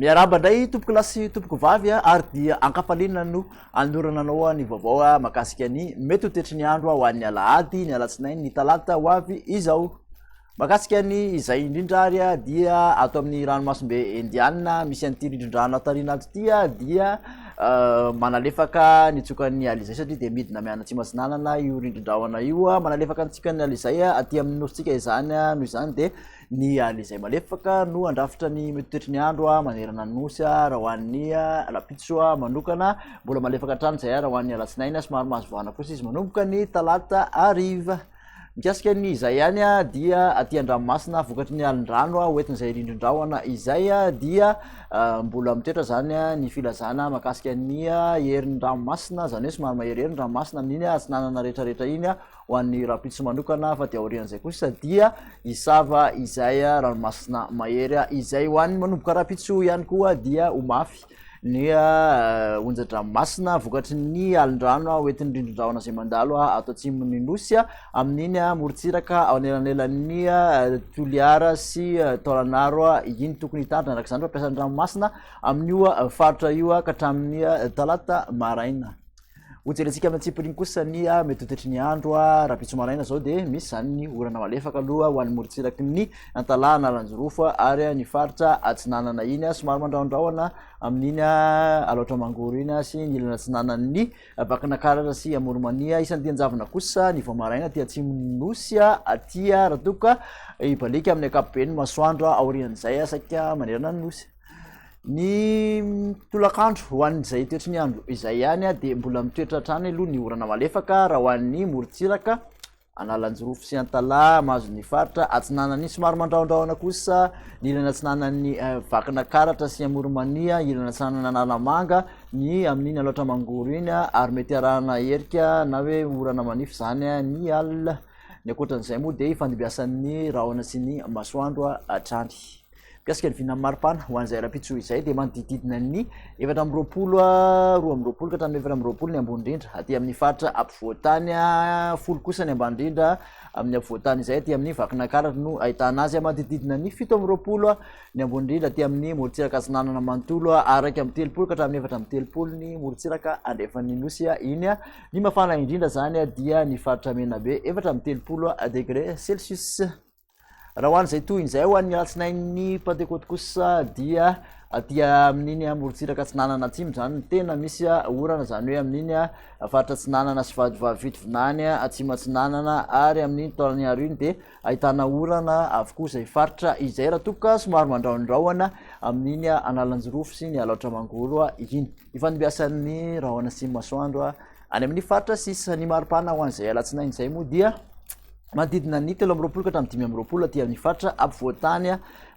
Miarahaba indray tompoko lahy sy tompoko vavy a, ary dia ankafaliana no anorana anao a, ny vaovao a, mahakasika ny mety ho toetry ny andro a, ho an'ny alahady, ny alatsinainy, ny talata ho avy izao. Mahakasika an' izay indrindra ary dia ato amin' ny Ranomasimbe Indiana misy an' ity rindrin-drano atarina ato ity dia manalefaka ny tsiokan' ny alizay satria dia midina miany Atsimo Atsinanana io rindrin-drahona io. Manalefaka ny tsiokan' ny alizay aty amin' ny Nosintsika izany, noho izany dia ny alizay malefaka no handrafitra ny metotoetry ny andro manerana ny Nosy raha ho an' ny alam-pitso manokana. Mbola malefaka hatrany izay raha ho an' ny alatsinainy, somary mahazo vahana kosa izy manomboka ny talata hariva. Mikasika ny izay ihany dia aty an-dranomasina vokatry ny alin-drano ho entin'izay rindrin-drahona izay dia mbola mitoetra izany ny filazana makasika ny herin'ny ranomasina izany hoe somary maherihery ny ranomasina amin'iny atsinanana rehetrarehetra iny ho an'ny rahampitso manokana fa dia aorian'izay kosa dia hisava izay ranomasina mahery izay ho an'ny manomboka rahampitso ihany koa dia ho mafy ny onja-dranomasina vokatry ny alin-drano hoentin'ny rindrin-drahona izay mandalo ato atsimon'ny nosy amin'iny morontsiraka ao anelanelan'ny Toliara sy Taolanaro iny tokony hitandrina araka izany fampiasan'ny ranomasina amin'io faritra io ka hatramin'ny talata maraina. Hojerentsika amin'ny antsipiriany kosa ny ah, mety ho toetry ny andro ah, rahampitso maraina izao dia misy izany ny orana malefaka aloha ho an'ny morontsiraky ny Antalaha na Lanjirofo ah, ary ah, ny faritra atsinanana iny ah, somary mandrahondrahona amin'iny Alaotra Mangoro iny sy ny ilana atsinanan'ny Vakinakaratra sy Amoromania. Isan'ny dian-javona kosa ny vao maraina aty atsimon'ny nosy aty raha toa ka hibaliaka amin'ny ankapobeny masoandro aorian'izay saika manerana ny nosy. Ny tolakandro ho an'izay toetry ny andro izay ihany dia mbola mitoetra hatrany aloha ny orana malefaka raha ho an'ny morontsiraka, Analanjirofo sy Antalaha, mahazo ny faritra atsinanan'ny somary mandrahondrahona kosa ny ilany atsinanan'ny eh, Vakinakaratra sy Amoronmania, ilany atsinanan'ny Analamanga, ny amin'iny Alaotra Mangoro iny ary mety arahana herika na hoe orana manify izany ny alina. Ny ankoatran'izay moa dia ifandimbiasan'ny rahona sy ny masoandro hatrany. Mikasika ny vinan'ny maripana ho an'izay rahampitso izay dia manodididina ny efatra amby roapolo ah, roa amby roapolo ka hatramin'ny efatra amby roapolo ny ambony indrindra aty amin'ny faritra ampovoantany ah, folo kosa ny ambany indrindra amin'ny ampovoantany izay aty amin'ny vakinakaratra no ahitana azy manodididina ny fito amby roapolo ah, ny ambony indrindra aty amin'ny morontsiraka atsinanana manontolo araka amin'ny telopolo ka hatramin'ny efatra amin'ny telopolo ny morontsiraka andrefan'ny nosy iny ny mafana indrindra izany dia ny faritra menabe efatra amin'ny telopolo degre celsius Raha ho an'izay tohiny izay ho an'ny alatsinain'ny pantekoty kosa dia aty amin'iny amorontsiraka atsinanana atsimo zany ny tena misy orana zany hoe amin'iny a faritra atsinanana sy vadivavivitovinany atsimo atsinanana ary amin'iny taolany haro iny dia ahitana orana avokoa izay faritra izay raha tokoka somaro mandraondraoana amin'iny analanjirofo sy ny alaotra mangoro a iny ifandimbiasan'ny rahona sy masoandro a Any amin'ny faritra sisa ny maripana ho an'izay alatsinainy izay moa dia manodidina ny telo amby roapolo ka hatramin'ny dimy amby roapolo aty amin'ny faritra ampovoan-tany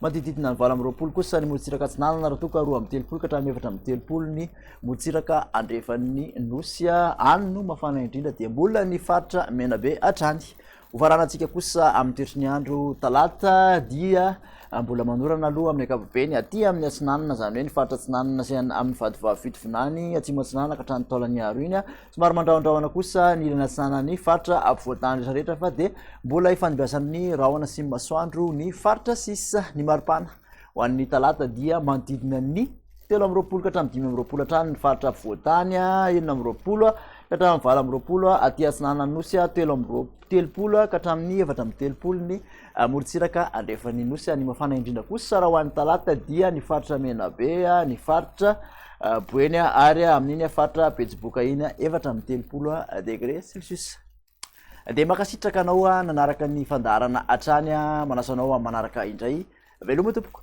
manodididina ny valo amby roapolo kosa ny morontsiraka atsinanana raha toa ka roa amby telopolo ka hatramin'ny efatra amby telopolo ny morontsiraka andrefan'ny nosy any no mafana indrindra dia mbola ny faritra menabe hatrany Ho faranantsika kosa amin'ny toetry ny andro talata dia ah, mbola manorana aloha amin'ny ankapobeny aty amin'ny atsinanana izany hoe ny faritra atsinanana sy amin'ny vadivavy fito vinany atsimo atsinanana ka hatrany taolany aro iny ah. somary mandrahondrahona kosa ny ilany atsinanan'ny faritra ampovoantany rehetrarehetra fa dia mbola ifandimbiasan'ny rahona sy masoandro ny faritra sisa ny maripana Ho an'ny talata dia manodidina ny telo amby roapolo ka hatramin'ny dimy amby roapolo hatrany ny faritra afovoan-tany, enina amby roapolo ka hatramin'ny valo amby roapolo aty atsinanana nosy, telo amby roa- telopolo ka hatramin'ny efatra amby telopolo ny morontsiraka andrefan'ny nosy. Ny mafana indrindra kosa raha ho an'ny talata dia ny faritra Menabe, ny faritra Boeny ary amin'iny faritra Betsiboka iny efatra amby telopolo degré celcius. Dia mankasitraka anao ah, nanaraka ny fandaharana hatrany ah, manasa anao amin'ny manaraka indray. Veloma tompoko.